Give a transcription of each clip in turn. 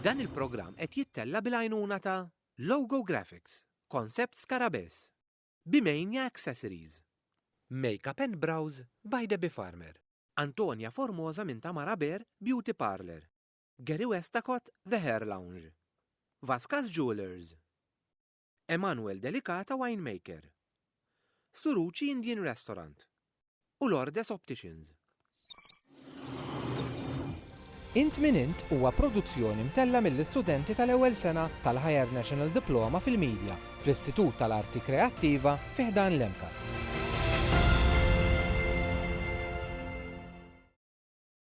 Dan il-programm qed jittella' bil-għajnuna ta' Logo Graphics, Concept Skarabess, Bimania Accessories, Makeup and Brows by Debbie Farmer, Antonia Formosa minn Tamara Bear Beauty Parlour, Gary Westacott The Hair Lounge, Vascas Jewellers, Emanuel Delicata Winemaker. Suruci Indian Restaurant. U Lourdes Opticians. Int Min Int huwa produzzjoni mtellgħa mill-istudenti tal-ewwel sena tal-Higher National Diploma fil-Media fl-Istitut tal-Arti Kreattiva fi ħdan l-MCAST.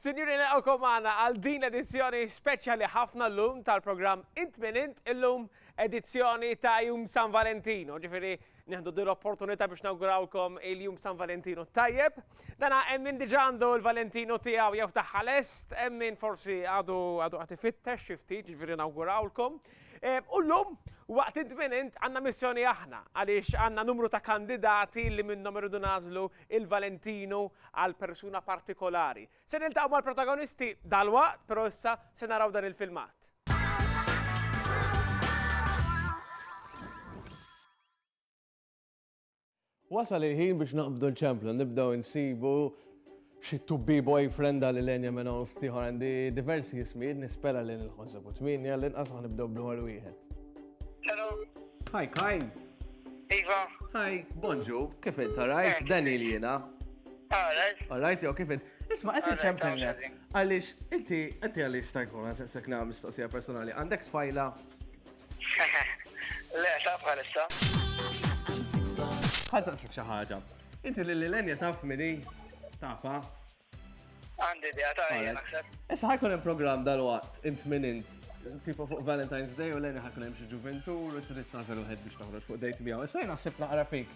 Sinjuri nilqgħukom magħna għal din edizzjoni speċjali ħafna llum tal-programm Int min Int illum edizzjoni ta' Jum San Valentino, ġifieri Nieħdu din l-opportunità biex nawgurawkom il-jum San Valentinu tajjeb. Dana hemm min diġà għandu l-Valentinu tiegħu jew tagħha lest, hemm min forsi għadu għadu qed ifittex xi ftit, jiġifieri nawgurawlkom. Eh, u llum waqt int minn int għandna missjoni aħna għaliex għandna numru ta' kandidati li minnhom irridu nażlu il-Valentinu għal persuna partikolari. Se niltaqgħu mal-protagonisti dalwaqt, pero issa se naraw dan il-filmat. Wasal il-ħin biex naqbdu l-ċemplu, nibdew insibu xi tubbi boyfriend għal l-enja minn hawn ftiħor għandi diversi jismijiet nispera li nil-ħonsa bu tminja li nqas nibdew bl-ħol wieħed. Hello. Hi Kai. Iva. Hi, bonġu, kif inta rajt, eh. Daniel jiena. Alright. Alright, jew kif int. Isma' qed iċċempellek għaliex inti inti għaliex sta jkun għasek nagħmel mistoqsija personali. Għandek tfajla? Le, ta' bħalissa. Ħadd saqsik xi ħaġa. Inti lil Lenja taf mini tafa. Għandi idea ta' naħseb. Issa ħajkun hemm programm dal-waqt int minn int tipo fuq Valentine's Day u l-għeni ħakun hemm xi ġuventur u trid tażel wieħed biex toħroġ fuq dejt miegħu. Issa naħseb naqra fik.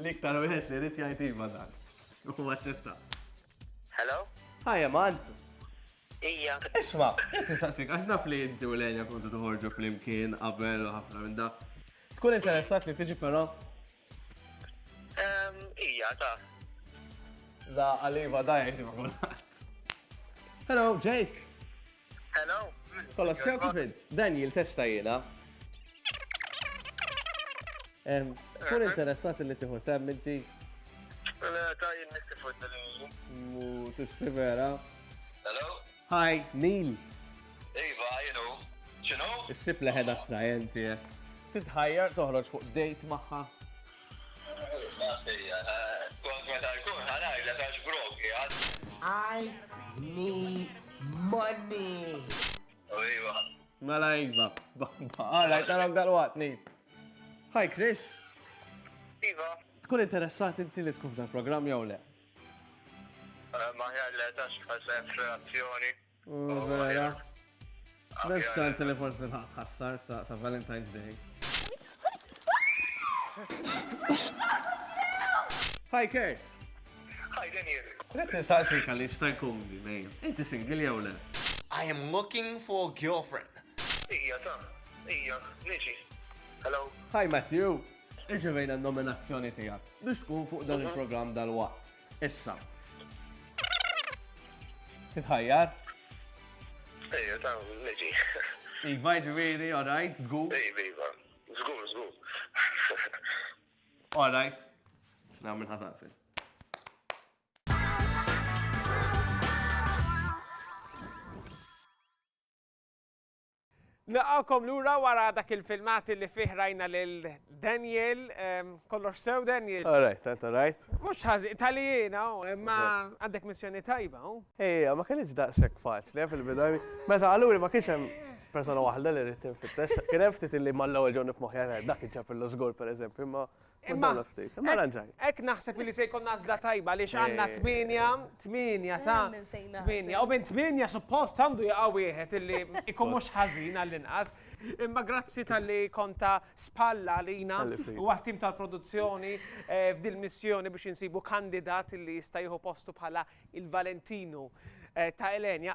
L-iktar wieħed li rrid jgħid iva dan. U aċċetta. Hello? Hi, Eman. Ija. Isma, qed nistaqsik għax naf li inti u Lenja kontu toħorġu flimkien qabel u ħafna minn da. Tkun interessat li tiġi però? Ehm, ija, ta. Da għaliva da jgħid ma' kulħadd. Hello, Jake. Hello. Kolla sew kif int? Daniel testa jiena. Kun interessat li tiħu sem inti? Le, ta' jien nistifud dal-inju. Mu tixti vera. Hello. Hi, Neil. Iva, jenu. Xinu? Issib leħed attrajenti. Eh. Titħajjar toħroġ fuq date maħħa? I need money. Mela iva, bamba. Għalaj, tarak dal-waqt, nejt. Hi, Chris. Iva. Tkun interessat inti li tkun f'dan program jew le? Eh, Maħjar le, tax bħal reazzjoni. Oh, vera. Best ċans li forsi tħassar sa Valentine's Day. Hi Kurt! Hi Daniel! Let insaqsi kalli sta jkun li nejn. Inti single jew le? I am looking for a girlfriend. Ija ta, ija, niġi. Hello. Hi Matthew! Irċevejna n-nominazzjoni tiegħek biex tkun fuq dan mhm. il-programm dal-waqt. Issa. Titħajjar? Ejja, ta' neġi. Iva, ġiviri, all right, zgur. Ejva, iva. Zgur, zgur. All right. Sna minn ħataqsi. Nilqgħukom lura wara dak il-filmat li fih rajna lil Daniel. Kollox sew, Daniel? All right, tant all right. Mhux ħażin, tali jiena, imma għandek missjoni tajba. Ejja, ma kinitx daqshekk faċli fil-bidu. Meta qaluli ma kienx hemm persona waħda li rrid tinfittex. Kien hemm ftit li mal-ewwel ġew nifmoħħi dak iġġab il-lużgur pereżempju, imma Imma ftit, imma ranġaj. Ek naħseb li se jkun nażla tajba li xanna 8, 8 ta' 8. U minn 8 suppost għandu jaqa' wieħed illi ikun mhux ħażin għall-inqas. Imma grazzi tal-li konta spalla lina u għattim tal-produzzjoni eh, f'dil missjoni biex insibu kandidat illi jista' jieħu postu bħala il-Valentinu eh, ta' Elenja.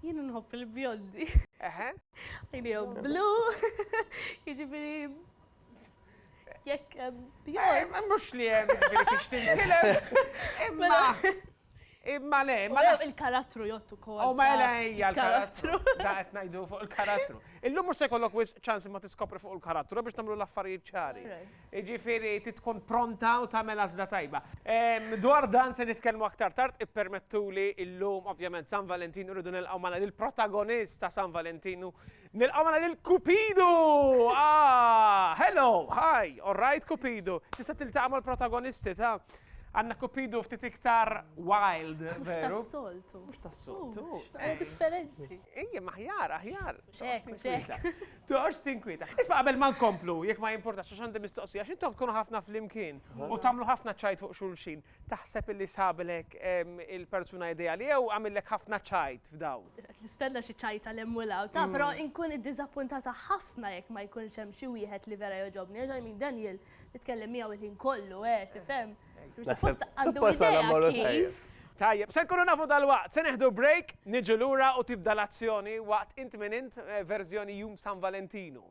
Jien nħobb il-bjondi. Eħe. Għajnijom blu. Jiġifieri jekk bjond. Mhux li hemm jiġifieri fiex tintilef. Imma Imma le, ma il-karattru jottu kol. U oh, ma le hija l-karattru. Da qed ngħidu fuq il-karattru. Illum mhux se jkollok wis ċans ma tiskopri fuq il-karattru biex nagħmlu l-affarijiet ċari. Jiġifieri trid tkun pronta u tagħmel għażla tajba. Dwar dan se nitkellmu aktar tard, ippermettuli llum ovvjament San Valentinu rridu nilqgħu magħna lill-protagonist ta' San Valentinu. Nilqgħu magħna lil Kupidu! Ah! Hello! Hi! All right Kupidu? Tista' tiltaqa' mal-protagonisti ta' Għandna Kupidu ftit iktar wild, veru? Mhux tas-soltu. Mhux tas-soltu. Differenti. Ejja, aħjar, aħjar. Hekk, hekk. Toqgħodx tinkwieta. Isma' qabel ma nkomplu, jekk ma jimpurtax għax għandi mistoqsija, għax intom tkunu ħafna flimkien u tagħmlu ħafna ċajt fuq xulxin, taħseb li sabilek il-persuna ideali jew għamillek ħafna ċajt f'dawl? Qed nistenna xi ċajt għal hemm u 'l hawn, taf, però nkun iddiżappuntata ħafna jekk ma jkunx hemm xi wieħed li vera jogħġobni, għax I mean Daniel Nitkellem miegħu l-ħin kollu, eh, tifhem? Suppost għandu idea kif. Tajjeb, se nkunu nafu dalwaqt, se neħdu break, niġu lura u tibda l-azzjoni waqt int min int eh, verżjoni jum San Valentinu.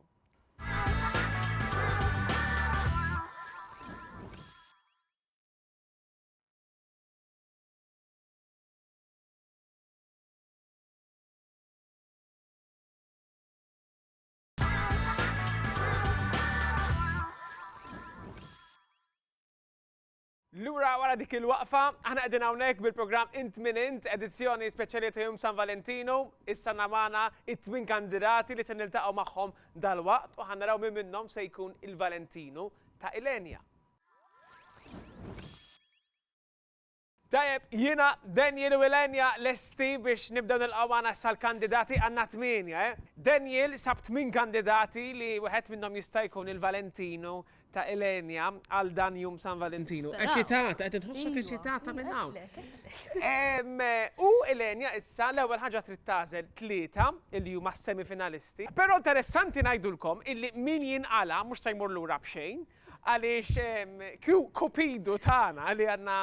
Lura wara dik il-waqfa, aħna qegħdin hawnhekk bil-programm Int Min Int, edizzjoni speċjali ta' Jum San Valentinu, issa namana it-twin kandidati li se niltaqgħu magħhom dal-waqt u ħanaraw minn minnhom se jkun il-Valentinu ta' Ilenja. Tajjeb, jiena, Daniel u Ylenia lesti biex nibdew nilqgħu magħna issa l-kandidati, għandna tmienja, eh. Daniel sab tmien kandidati li wieħed minnhom jista' jkun il-Valentinu ta' Ylenia għal dan jum San Valentinu. Eċitata, qed inħossok eċitata minn hawn. U Ylenia issa l-ewwel ħaġa trid tagħżel tlieta li huma s-semifinalisti. Però interessanti ngħidulkom illi min jinqala' mhux se jmur lura b'xejn, Għaliex Kupidu tagħna li għandna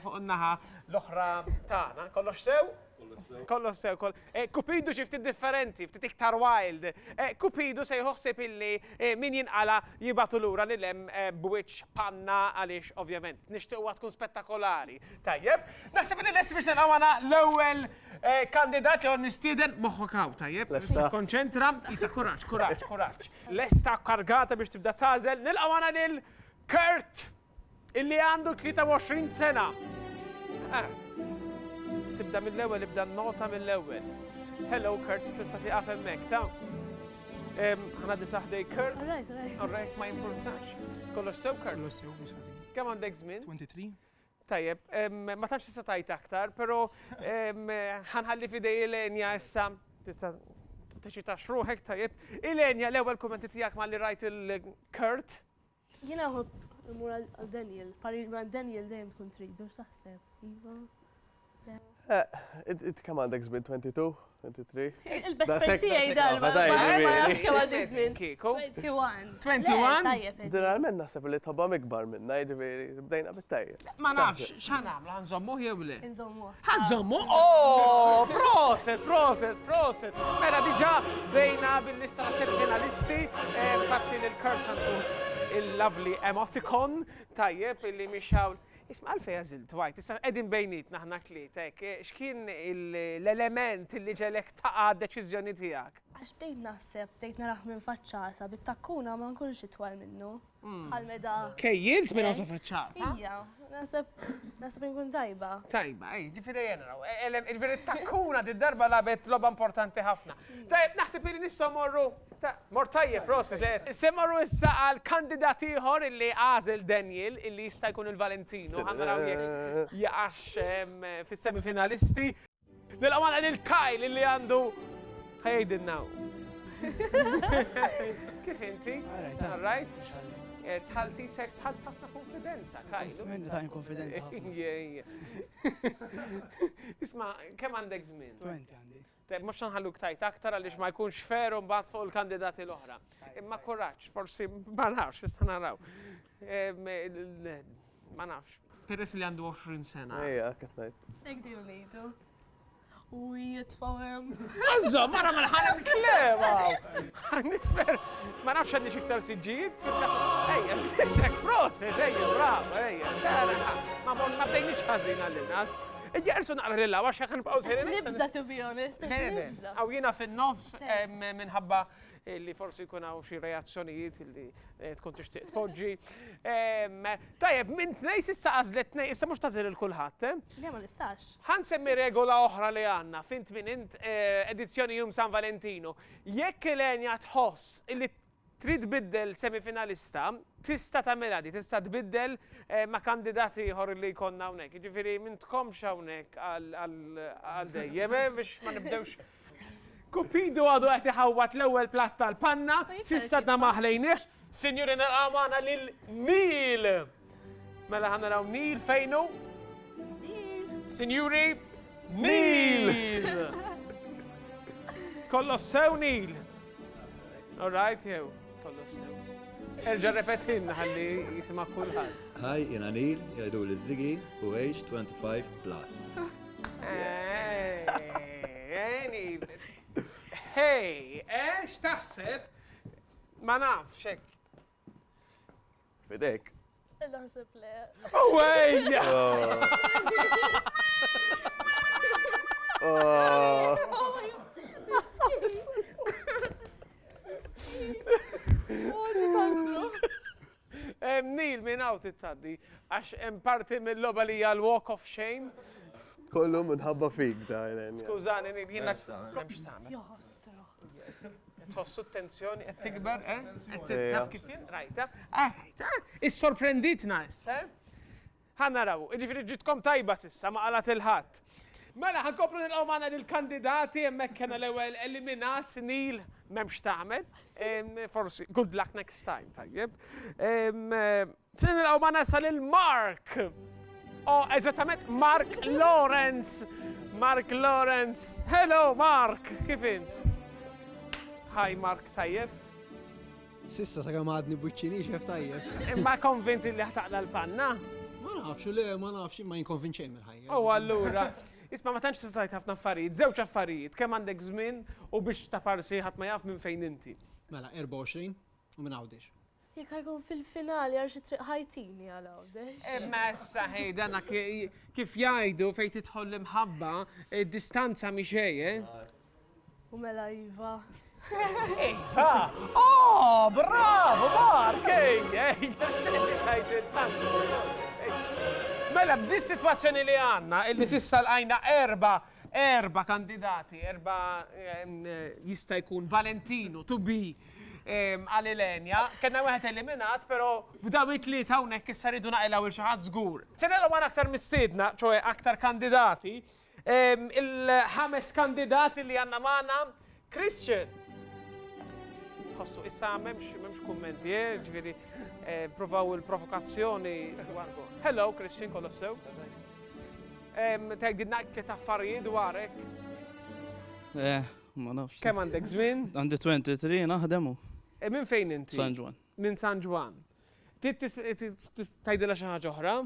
fuq in-naħa l-oħra tagħna, kollox sew? Kollox sew. Kollox sew, koll. Eh, Kupidu xi ftit differenti, ftit iktar wild. Eh, Kupidu se jħossib illi eh, min jinqala jibatu lura li lem b'wiċċ panna għaliex ovvjament nixtieqwa tkun spettakolari. Tajjeb, naħseb li lesti biex nilqgħu l-ewwel kandidat li għon nistieden moħħok hawn, tajjeb? Konċentra, jisa kuraġġ, kuraġġ, kuraġġ. Lesta, kargata biex tibda tagħżel, nilqa' magħna lil Kurt illi għandu 23 sena. Ah, tibda mill-ewwel, ibda nota mill-ewwel. Hello Kurt, tista' tieqaf hemmhekk ta' ħana disaħdej Kurt. Alright, ma jimpurtax. Kollox sew Kurt. Kollox sew biex ħażin. Kemm għandek żmien? 23. Tajjeb, ma tafx tista' tajt aktar, però ħanħalli fidej Elenja issa tista' teċita xruħek tajjeb. Elenja, l-ewwel kummenti tiegħek ma li rajt il-Kurt. Jiena nħobb imur għal Daniel, parir ma' Daniel dejjem tkun trid, mhux taħseb, iva. Int kemm għandek żmien 22, 23? Il-best tiegħi dan ma nafx kemm għandek żmien. 21. 21? Tajjeb. Ġeneralment naħseb li tobhom ikbar minna, jiġifieri bdejna bit-tajjeb. Ma nafx x'ħan nagħmlu, ħanżommuh jew le? Inżommuh. Ħanżommu? Oh, proset, proset, proset. Mela diġà bdejna bil-lista naħseb finalisti, eh, fatti lil Kurt Antu il-lovely emoticon tajjeb illi miex hawn. Isma' għalfejn għażilt Dwight? Issa qegħdin bejnietna aħna t-tlieta hekk, x'kien l-element li ġegħlek taqa' d-deċiżjoni tiegħek? Għax bdejt naħseb, bdejt narah minn faċċata, bit-takkuna ma nkunx itwal minnu. Bħal meta. Kejjilt minn hawn sa faċċata? Ija, naħseb, naħseb li nkun tajba. Tajba, ej, ġifieri ejja naraw. Il-veri t-takkuna did-darba lagħbet logħba importanti ħafna. Tajjeb, naħseb li nistgħu morru. Mort tajjeb, prosit. Se morru issa għal kandidat ieħor illi għażel Daniel illi jista' jkun il-Valentino. Ħa naraw jekk jaqax fis-semifinalisti. Nilqgħu magħna lil Kyle illi għandu ħa jgħidilna hu. Kif inti? All right. Eh, tħalti sek tħalt ħafna konfidenza, kajlu. Minni ta' konfidenza. Isma, kem għandek zmin? 20 għandi. Tajjeb, mhux se nħalluk tgħid aktar għaliex ma jkunx fair u mbagħad fuq il-kandidati l-oħra. Imma kuraġġ, forsi ma nafx, issa naraw. Ma nafx. Peress li għandu 20 sena. Ejja, qed ngħid. Hekk dejjem ngħidu. U jitfgħu hemm. Għażżhom, mara ma nħalla l-klema. Nitfer, ma nafx għandi xi iktar siġġijiet fil-kasa. Ejja, x'nisek, proset, ejja, brava, ejja. Ma bdejniex ħażin għall-inqas. Ġersu naqra lil hawn għax jekk nibqgħu sejrin. Qed nibża' to be honest, qed nibża'. Hawn jiena fin-nofs minħabba li forsi jkun hawn xi reazzjonijiet li tkun tixtieq tpoġġi. Tajjeb, minn tnejn s'issa għażlet tnejn, issa mhux tagħżel lil kulħadd. Le ma nistax. Ħa nsemmi regola oħra li għandna f'Int Min Int, edizzjoni Jum San Valentinu. Jekk Ilenia tħoss li Trid tbiddel semifinalista, tista' tagħmilha di, tista' tbiddel ma' kandidat ieħor li jkollna hawnhekk. Jiġifieri m'intkomx hawnhekk għal dejjem biex ma nibdewx. Cupido għadu qed iħawwad l-ewwel platt tal-panna, s'issa għadna ma ħlejniehx. Sinjuri nilqgħu magħna lil Neil! Mela ħan naraw Neil fejnu? Neil. Sinjuri, Neil! Kollos sew Neil. All right, jew, kollos sew. Erġa repetin ħalli jisima kulħadd. Hi, jena Neil, jgħidu li zigi u age 25 plus. Hey, ex taħseb ma nafx hekk Fidek. Naħseb le. Awejja! Nil minn għaw tittaddi, għax hemm parti mill-loba li hija l-walk of shame. Kollu minħabba fik da. Skużani, Nil, jiena. Joħos. Tħossu t-tensjoni qed tikber, eh? Taf kif jien? Rajta? Issorprenditna issa, eh? Ħa naraw, jiġifieri ġitkom tajba s'issa ma qalgħet il-ħadd. Mela ħankomplu nilqgħu magħna lill-kandidati hemmhekk kellna l-ewwel eliminat Neil m'hemm x'tagħmel. Forsi good luck next time, tajjeb. Se nilqgħu ma nasa lil Mark. O, eżattament Mark Lawrence. Mark Lawrence. Hello Mark, kif int? Hi Mark, tajjeb. Sissa sa kemm għadni buċċini xef tajjeb. Imma konvinti li ħtaqla l-panna? Ma nafx, le, ma nafx, ma jinkonvinċej mill-ħajja. U allura, isma ma tantx tistajt ħafna affarijiet, żewġ affarijiet, kemm għandek żmien u biex ta' parsi ħadd ma jaf minn fejn inti. Mela, 24 u minn għawdix. Jekk ħajkun fil-finali għal xi triq ħajtini għal Għawdex. Imma issa ħej dana kif jgħidu fejn tidħol l-imħabba, id-distanza mhi xejn, eh? U mela iva. Iva! Oh, bravo, Mark! Mela, b'di situazzjoni li għanna, illi sissa l-għajna erba, erba kandidati, erba ehm, jista' jkun Valentino, to be, Qal Ilenia, Kellna wieħed eliminat, però b'dawn it-tlieta hawnhekk issa rridu naqilgħu lil xi ħadd żgur. Se nilgħu għal aktar mistiedna, ċoe aktar kandidati. Il-ħames kandidat li għandna magħna, Christian. Tħossu issa m'hemmx kummenti, eh, ġifieri eh, provaw il-provokazzjoni. Hello Christian Kolossew. Tgħidilna tliet affarijiet dwarek. Eh, Ma nafx. Kemm għandek żmien? Għandi 23 naħdem u. E minn fejn inti? San Ġwan. Minn San Ġwan. Tajdilha xi ħaġa oħra?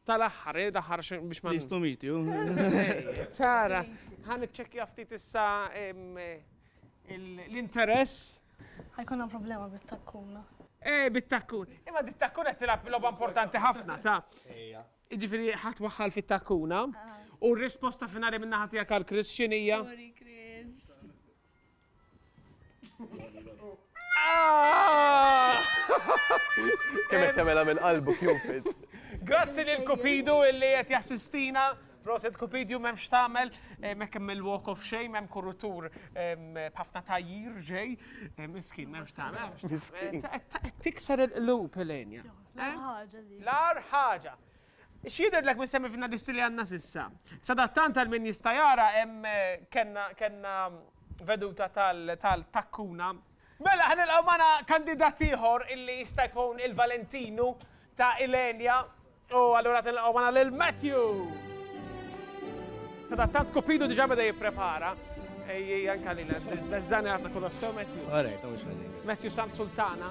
tal-aħħar, eh, daħħar biex ma. Nistu miti, Tara, ħan iċċekkja ftit issa l-interess. Ħajkonna problema bit-takkuna. Eh, bit-takkun. Imma dit-takkun qed tilab logħba importanti ħafna, ta' Jiġifieri ħadd waħħal fit-takkuna. U r-risposta finali min-naħa tiegħek għal Chris x'inhija? Sorry Chris. Kemm qed tagħmilha minn qalbu Cupid. Grazzi lil Cupidu illi qed jassistina. Proset Cupidu m'hemmx tagħmel, eh, m'hekk hemm il-walk of shame, hemm kurutur ehm, b'ħafna tajjir ġej. Eh, Miskin m'hemmx tagħmel. Miskin. Qed tikser il-qlub Elenja. L-ar ħaġa li. L-ar ħaġa. X'jidhirlek minn semmi finalisti li għandna sissa? Sadattant għal min jista' jara hemm kellna veduta tal-takkuna. Mela ħa nilqgħu magħna kandidat ieħor illi jista' jkun il-Valentinu ta' Ilenia u allura se nilqgħu magħna lil Matthew. Sadattant Kupidu diġà beda jipprepara. Ejjej anke lilek. Beżżani ħafna kollox sew Matthew. All right, mhux ħażin. Matthew Sant Sultana.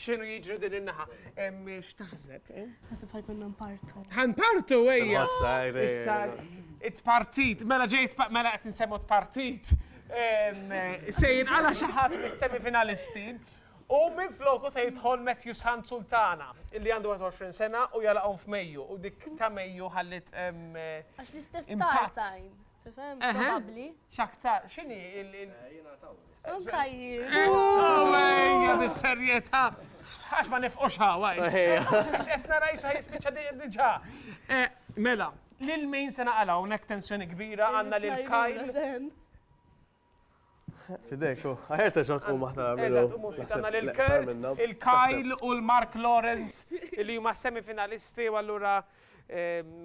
X'inhu jiġri din in-naħa? X'taħseb? Naħseb bħal konna npartu. Ħanpartu ejja. Issa it-partit, mela ġejt mela qed insemmu t-partit. Se jinqala xi ħadd mis-semifinalisti. U minn floku se jidħol Matthew San Sultana, illi għandu 20 sena u jalaqhom f'Mejju. U dik ta' Mejju ħallit. Għax l-istess Tifhem? Probabbli. X'aktar, x'inhi il- il- Jiena taw. Anka jien. Ejja, bis-serjetà. Għax ma nifqux ħawa. Għax qed nara jisa jispiċċa di- diġà. Eh, Mela, lil min se naqala hawnhekk tensjoni kbira għandna lil Kyle. Fidek, u għajer terġa tkun maħna Eżatt, u mufti għandna lil Kurt, il-Kyle u l-Mark Lawrence li huma semifinalisti u allura em,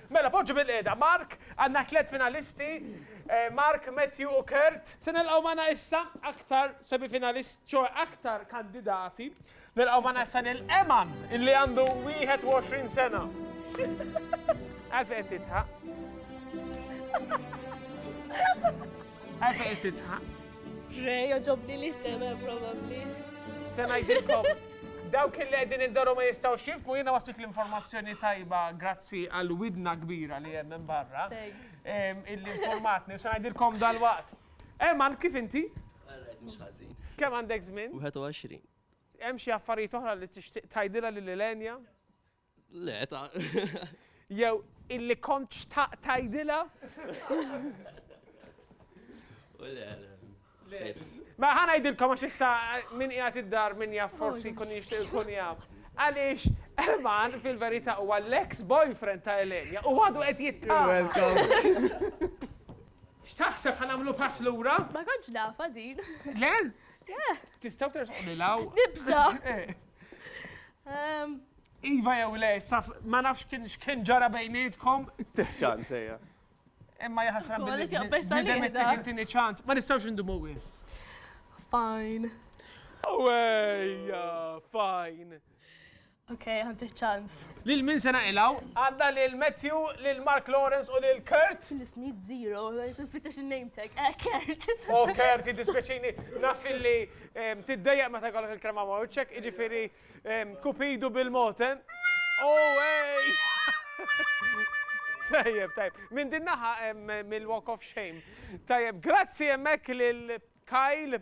Mela poġġu bilqiegħda Mark, għandna tliet finalisti, Mark, Matthew u Kurt. Se nilqgħu magħna issa aktar semifinalist, ċoe aktar kandidati. Nilqgħu magħna issa lil Eman illi għandu 21 sena. Għalfejn qed tidħaq? Għasa qed titħaq. Re, joġobni li sema probabli. Se ngħidilkom dawk li qegħdin id-daru ma jistgħu xifmu jiena waslit l-informazzjoni tajba grazzi għal widna kbira li hemm minn barra. Illi informatni se ngħidilkom dal-waqt. Eman, kif inti? Kemm għandek żmien? 21. Hemm xi affarijiet oħra li tixtieq tgħidilha lil Elenja? Le, ta. Jew illi kont xtaqt tgħidilha? Le, le. Ma ħana jidilkom għax issa eh, min qiegħed id-dar min jaf oh, forsi kun jixtieq ikun jaf. Għaliex Elman fil-verità huwa l-ex boyfriend ta' Elenja u għadu qed jittama. X'taħseb ħanamlu pass lura? Ma kontx nafa din. Le? Tistgħu terġgħu law. Nibża. Eh. Ehm, Iva jew le, issa ma nafx x'kien ġara bejnietkom. Tih ċans ejja. Imma jaħasra billi. Bidem it-tih it-tieni ċans. Ma nistgħux indumu wis. Fine. Ejja, fine. Ok, ħantih ċans. Lil min se naqilgħu? Għandna lil Matthew, lil Mark Lawrence u lil Kurt. Nisnid zero, fittex il-name tag. Eh, Kurt. Oh, Kurt, jiddispjaċini. Naf illi tiddejjaq meta jkollok il-krema ma' wiċċek, jiġifieri Kupidu bil-mod, eh? Oh, ej! Tajjeb, tajjeb. Minn din naħa mill-Walk of Shame. Tajjeb, grazzi hemmhekk lil Kyle.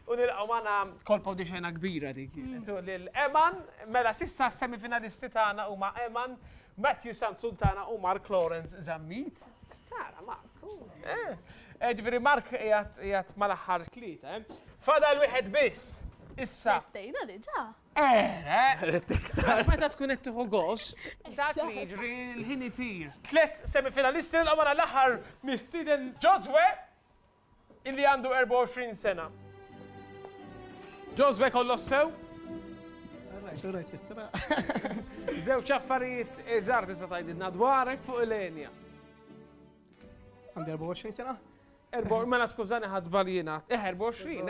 U nilqgħu magħna kolpa u dixena kbira dik. Mm. Lil Eman, mela sissa semifinalisti tagħna huma Eman, Matthew Sant Sultana u Mark Lawrence Zammit. Tara, Mark. Eh, ġifiri Mark jgħat mal-axħar tlieta, eh? Fadal wieħed biss! Issa. Stejna diġa. Era! Għax meta tkun qed tieħu gost, dak li jiġri l-ħin itir. Tlet semifinalisti l għamana l-aħħar mistiden Joswe illi għandu 24 sena. Joswe kollos sew? Zewċ affarijiet iżar tista' tgħidilna dwarek fuq il-enja. Għandi 24 sena? Mela skużani ħad żbaljina. Eh 24,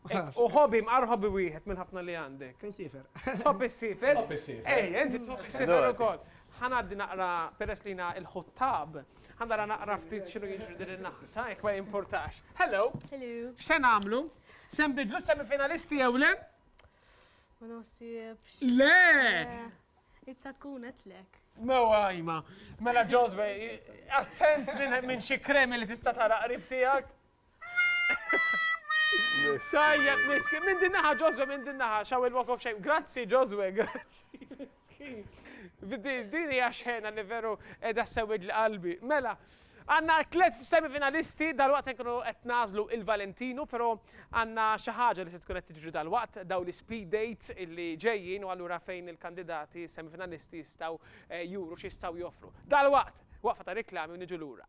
ekk. U ħobi mqar ħobi wieħed minn ħafna li għandek. Kien sifer. Top is-sifer. Top is-sifer. Ej, inti top is-sifer ukoll. Ħanaddi naqra peress li il-ħuttab. Ħandara naqra ftit xinu jiġri din in-naħta, jekk ma jimportax. Hello. Hello. X'se nagħmlu? Sem bidlu semifinalisti jew le? Ma naħsibx. Le! Eh. Itta tkun għetlek. Mewa għajma. Mela ġozbe, attent minn xi kremi li tista' tara qrib tiegħek. Sajjeb miskin, minn din naħa ġozbe, minn din naħa, xaw il-walk of shame. Grazzi ġozbe, grazzi miskin. Din hija xena li veru edha sewid l-qalbi. Mela, Għandna tliet semifinalisti, dalwaqt se nkunu qed nagħżlu il-Valentinu, però għandna xi ħaġa li se tkun qed tiġri dalwaqt, dawn l-ispeed dates li ġejjin u allura fejn il-kandidati semifinalisti jistgħu juru x'jistgħu joffru. Dalwaqt! Waqfa ta' riklami u niġu lura.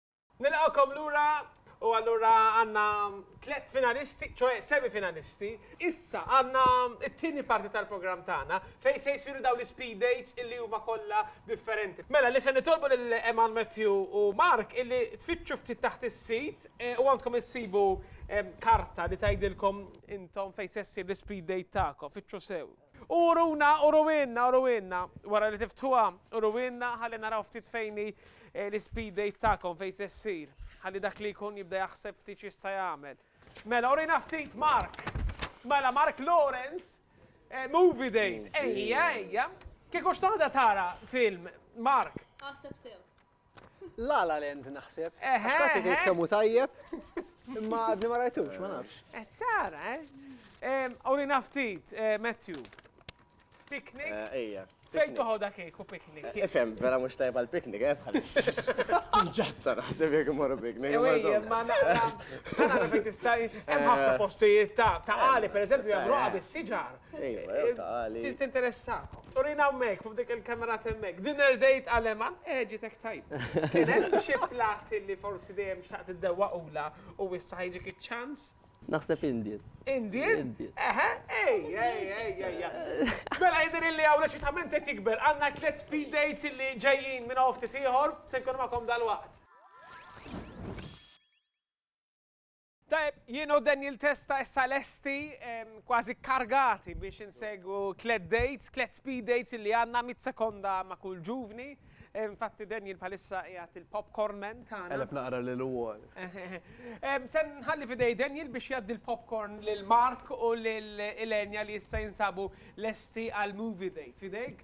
Nilqgħukom lura u allura għandna tliet finalisti, ċoe semi finalisti. Issa għandna t-tieni parti tal-programm tagħna fejn se jsiru dawn l-speed dates illi huma kollha differenti. Mela li se nitolbu lil Eman, Matthew u Mark illi tfittxu ftit taħt is-sit u għandkom issibu karta li tgħidilkom intom fejn se ssir l-ispeed date tagħkom. Fittxu sew. U uruna, uruwielna, uruwielna, wara li tiftħuha, uruwielna ħalli naraw ftit fejn hi l-speed date tagħkom, fejn se ssir, ħalli dak li jkun jibda jaħseb ftit x'jista' jagħmel. Mela, urina ftit, Mark! Mela, Mark Lawrence, movie date, ejja, ejja. Kieku x'toħodha tara film, Mark? Aħseb sew. Lala Land naħseb. Eħe. Qed tgħid kemm hu tajjeb. Imma għadni ma rajtux, ma nafx. Eh, tara, eh. Oli naftit, eh, Matthew. Picnic? Eh, ejja. Fejn toħodha kieku picnic? Ifhem, eh, vera mhux tajba l-picnic, eh bħalis. Tinġazza naħseb jekk imorru picnic. Ejja, ma naqra. Nara fejn tista' hemm ħafna postijiet ta' ta' qali, pereżempju hemm roqa bis-siġar. Iva, jew tali. Tinteressakom. Turina hemmhekk, fuq dik il-kamerat hemmhekk. Dinner date għal Eman, eh ġiet hekk tajba. Kien hemm xi platt li forsi dejjem xtaqt iddewwaqulha u issa ħajġik iċ-ċans? Naħseb Indian. Indian? Eħe, ej, ej, ej, ej. Mela jidhirli hawn l-eċitament qed jikber. Għandna tliet speed dates li ġejjin minn hawn ftit ieħor, se nkunu magħkom dalwaqt. Tajjeb, jien u Daniel Testa issa lesti, kważi kkargati biex insegwu tliet dates, tliet speed dates li għandna mitt sekonda ma' kull ġuvni. Infatti Daniel bħalissa qiegħed il-popcorn man tagħna. Qegħleb naqra lilu wkoll. Se nħalli f'idej Daniel biex jgħaddi l-popcorn lil Mark u lil Ilenia li issa jinsabu lesti għall-movie date. F'idejk.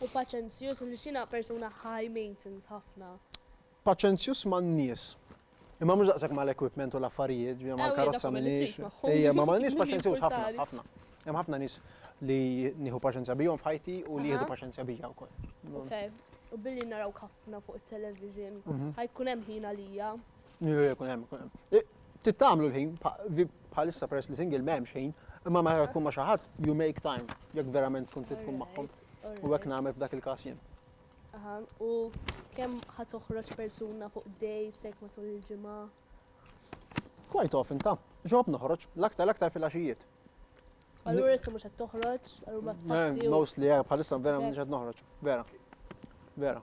U paċenzjuż għaliex jiena persuna high maintence ħafna. Paċenzjuż man-nies. Imma mhux daqshekk mal-equipment u l-affarijiet, ġviri mal-karozza minix. Ejja, ma m'għandniex paċenzjuż ħafna, ħafna. Hemm ħafna nies li nieħu paċenzja bihom f'ħajti u li jieħdu paċenzja bija wkoll. Okej, u billi narawk ħafna fuq it-television, ħajkun hemm ħin għalija. Jkun hemm, jkun hemm. Tittamlu l-ħin, bħalissa peress li single m'hemmx ħin, imma meta tkun ma' xi ħadd, you make time, jekk verament tkun tkun magħhom. U hekk nagħmel f'dak il-każ jien. Aha, u kemm ħa toħroġ persuna fuq dates hekk matul il-ġimgħa? Quite often ta' ġob noħroġ, l-aktar l-aktar fil-għaxijiet. Allura issa mhux qed toħroġ, allura ma Eh, tfakki. Mostly, eh, bħalissa vera mhux qed noħroġ. Vera. Vera.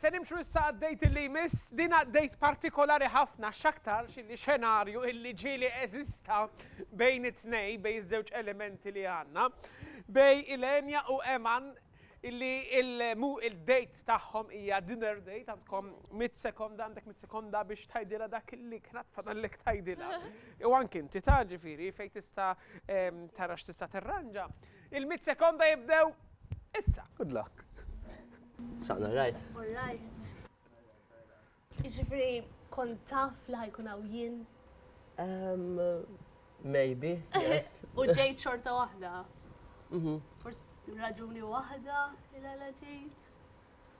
Se nimxu issa għad-date illi jmiss. Din ha date partikolari ħafna x'aktarx illi xenarju illi ġieli eżista bejn it-tnej, bejn iż-żewġ elementi li għandna, bejn Ilenia u Eman illi il-date tagħhom hija dinner date, għandkom mitt sekonda, għandek mitt sekonda biex tgħidilha dak illi kien għad fadallek tgħidilha. U anki inti tgħid ġifieri fejn tista' tara x'tista' tirranġa. Il-mitt sekonda jibdew issa. Good luck. Xaqna rajt. All right. Iġifri, kont taf li ħajkun għaw jien? Um, maybe, yes. U ġejt xorta wahda. Mhm. Forse raġuni wahda il-għala ġejt.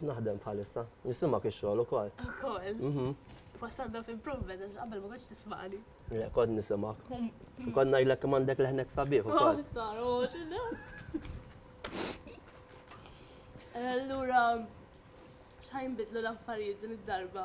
Naħdem bħalissa. Nisimak ix-xogħol ukoll. Ukoll. Mhm. Wasalna f'impruvement għax qabel ma kontx tismani. Le, kont nisimak. Kont ngħidlek kemm għandek leħnek sabiħ oh, ukoll. Allura, x'ħajn bidlu l-affarijiet din id-darba?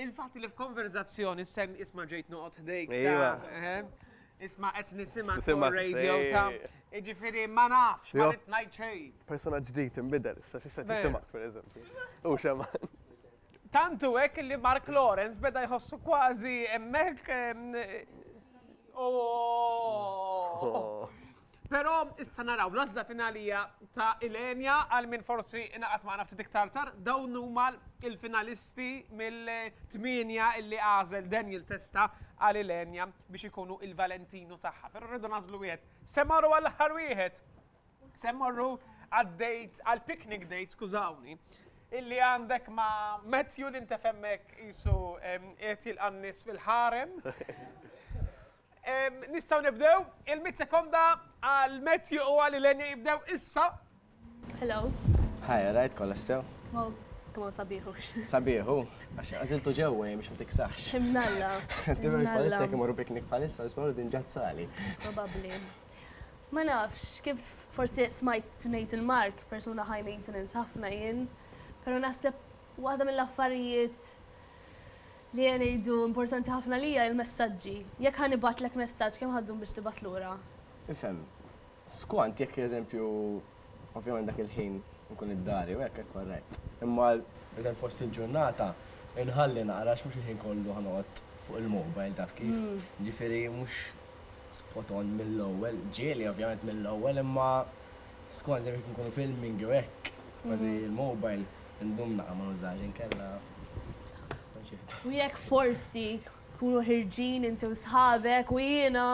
Il-fatt li f'konverzazzjoni sem isma' ġejt noqgħod ħdejk. Iva. Isma' qed nisimgħek fuq radio ta' jiġifieri ma nafx, ma rid ngħid xejn. Persuna ġdid inbidel issa x'issa tisimgħek pereżempju. U xemma. Tant hu hekk li Mark Lawrence beda jħossu kważi hemmhekk. Però issa naraw l-għażla finali hija ta' Ilenia għal min forsi ingħaqad magħna ftit iktar tard. Dawn huma l-finalisti mill-tmienja li għażel Daniel Testa għal Ilenia biex ikunu il-Valentino tagħha. Però rridu nagħżlu wieħed. Se mmorru għall-aħħar wieħed. Se mmorru għad-date għall-picnic date, skużawni, illi għandek ma' Matthew li ntefemmek isu qiegħed jilqa' n-nies fil-ħarem. Nistgħu nibdew, il-mitt sekonda għal Matthew u għal Ilenia jibdew issa. Hello. Hi, alright, kolla sew? Wow, kma sabiħux. Sabiħu, għax għaziltu ġewwa jem xum tiksax. Imnalla. Dimmer palissa kem morru piknik palissa, nismaru din ġazzali. Probabli. Ma nafx, kif forsi smajt nejt il-mark, persuna high maintenance ħafna jien, pero naħseb waħda mill-affarijiet Li qed ngħidu importanti ħafna għalija hi l-messaġġi. Jekk ħa nibgħatlek messaġġ kemm ħa ddum biex tibgħat lura? Nifhem. Skont jekk eżempju ovvjament dak il-ħin inkun id-dari u hekk hekk korrett. Imma eżempju fost il-ġurnata inħalli naqra għax mhux il-ħin kollu ħa noqgħod fuq il-mobile taf kif. Ġifieri mhux spot on mill-ewwel. Ġieli ovvjament mill-ewwel imma skont eżempju jekk inkunu filming jew hekk kważi l-mobile indum naqra ma nużahx inkella. U jekk forsi tkunu ħirġin inti u sħabek u jiena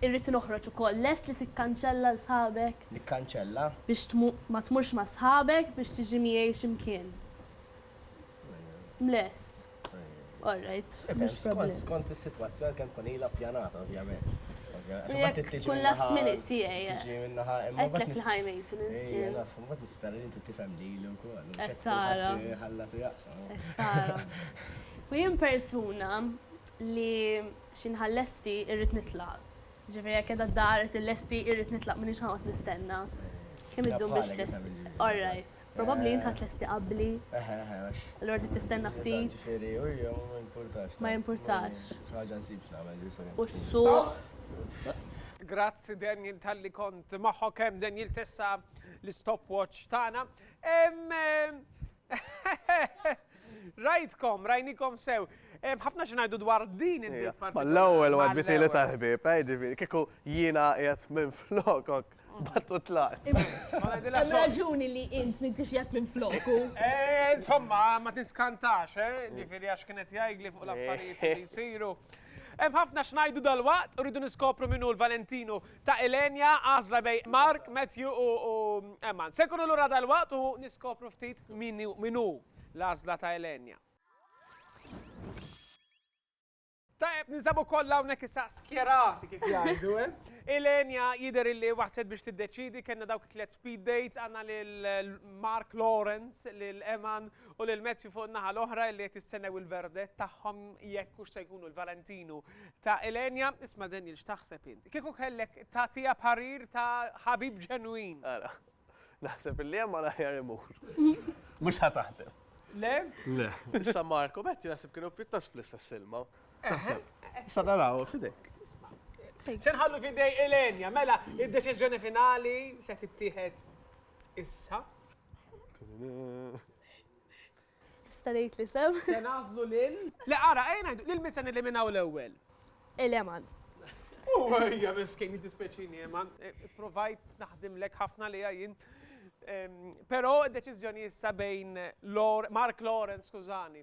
irrid noħroġ ukoll, lest li tikkanċella l sħabek? Nikkanċella? Biex ma tmurx ma' sħabek biex tiġi miegħi xi mkien. Mlest? All right. Skont is-sitwazzjoni kemm tkun ilha ppjanata ovvjament. Jekk tkun last minute tiegħi. Tiġi minn naħa imma. Għedtlek li ħaj maintenance. Mbagħad nispera li inti tifhem lili wkoll, u mhux qed tqul ħadd iħallat u jaqsam. Qed tara. U jien persuna li xi nħall lesti irrid nitlaq. Jiġifieri jekk qiegħda d-daqa rrid illesti irrid nitlaq m'iniex ħanoqgħod nistenna. Kemm iddum biex tlesti? All right. Probabbli int ħa tlesti qabbli. Eħe, eħe, għax. Allura trid tistenna ftit. Jiġifieri, u jien ma jimpurtax. Ma jimpurtax. Xi ħaġa nsib x'nagħmel, ġifieri. U s-suq. Grazzi Daniel talli kont magħhok hemm Daniel Tessa. l-istopwatch tagħna. Rajtkom, rajnikom sew. Ħafna xinajdu dwar din id-diet eh, partikolari. L-ewwel wadditi li tal-ħbib, eh, ġifieri, kieku jiena qiegħed minn flokok. Battu tlaqt. Hemm raġuni li int minn tixjat minn floku. Eh, insomma, ma tiskantax, eh? Ġifieri għax kienet jgħidli fuq l-affarijiet li jsiru. Hemm ħafna xnajdu dal-waqt, rridu niskopru minnu l-Valentinu ta' Ilenia, għażla bejn Mark, Matthew u Emman. Se nkunu lura dalwaqt u niskopru ftit min hu l-għażla ta' Ilenia. Tajjeb, ninsabu kollha hawnhekk issa skjerati kif jgħidu, eh? Ilenia jidher illi waslet biex tiddeċiedi, kellna dawk it-tliet Speed dates għandna lil Mark Lawrence, lil Eman u lil Matthew fuq in-naħa l-oħra li qed jistennew il-verdett tagħhom jekk hux se jkunu l-Valentinu ta' Ilenia. Isma' Daniel x'taħseb int? Kieku kellek tagħtiha parir ta' ħabib ġenwin. Ara. Naħseb illi Eman aħjar imur. Mhux ħa taħdem. Le? Le. Issa Mark u Matthew naħseb kienu pjuttost fl-istess ilma. Sa naraw fidejk. Se nħallu fidej Elenja, mela, id-deċiżjoni finali se tittieħed issa. Tista' ngħid li sem. Se nażlu lil. Le ara, ejja ngħidu, lil min se niliminaw l-ewwel? Il-Eman. Ejja miskin, jiddispjaċini Eman. Provajt naħdimlek ħafna li jien. Però d-deċiżjoni issa bejn Mark Lawrence, skużani.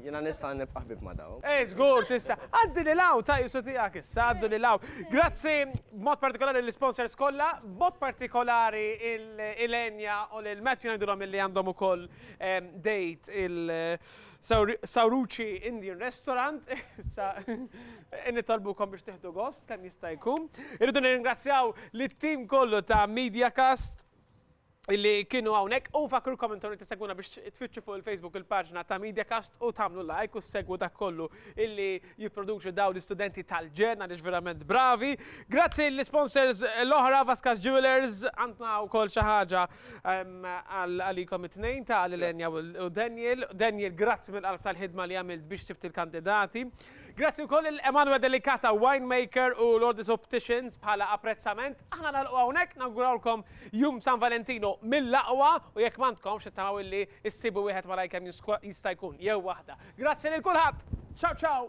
Jiena nista' nibqa' ħbieb ma' dawn. Ej, żgur tista'. Għaddi lil hawn, ta' qisu tiegħek issa, għaddu lil hawn. Grazzi b'mod partikolari lill-isponsors kollha, b'mod partikolari lil Enya u lil Matthew ngħidulhom illi għandhom ukoll date il-Sawruci Indian Restaurant. Issa nitolbukom biex tieħdu gost kemm jista' jkun. Irridu nirringrazzjaw lit-tim kollu ta' Mediacast. illi kienu għawnek u fakrkom intom li t-segwuna biex tfittxu fuq il-Facebook il-paġna ta' Mediacast u tamlu like u segwu dak kollu illi jiproduċu daw l-istudenti tal-ġen għalix verament bravi. Grazzi l-sponsors l-oħra Vaskas Jewelers għantna u kol xaħġa ehm, għalikom it-tnejn ta' l-Lenja u Daniel. Daniel, grazzi mill-qalb tal-ħidma li għamilt biex sibt il-kandidati. Grazzi wkoll lil Emanuel Delicata Winemaker u Lourdes Opticians bħala apprezzament. Aħna nagħlqu hawnhekk, nawgurawlkom Jum San Valentino mill-aqwa u jekk m'għandkomx nittamaw illi issibu wieħed malajr kemm jista' jkun, jew waħda. Grazzi lil kulħadd! Ciao ciao!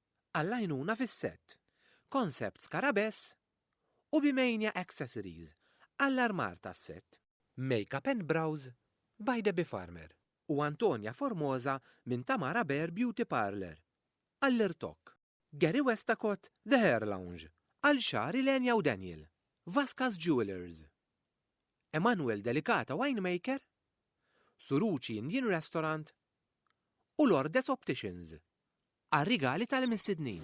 għall-għajnuna fis-sett, Concept Scarabess u Bimania Accessories għall-armar tas-sett, Makeup and Brows by Debbie Farmer u Antonia Formosa minn Tamara Bear Beauty Parlour għall-irtokk, Gary Westacott The Hair Lounge għal xagħar Ilenia u Daniel, Vascas Jewellers, Emanuel Delicata Winemaker, Suruci Indian Restaurant u Lourdes Opticians għar-rigali tal-imistednin.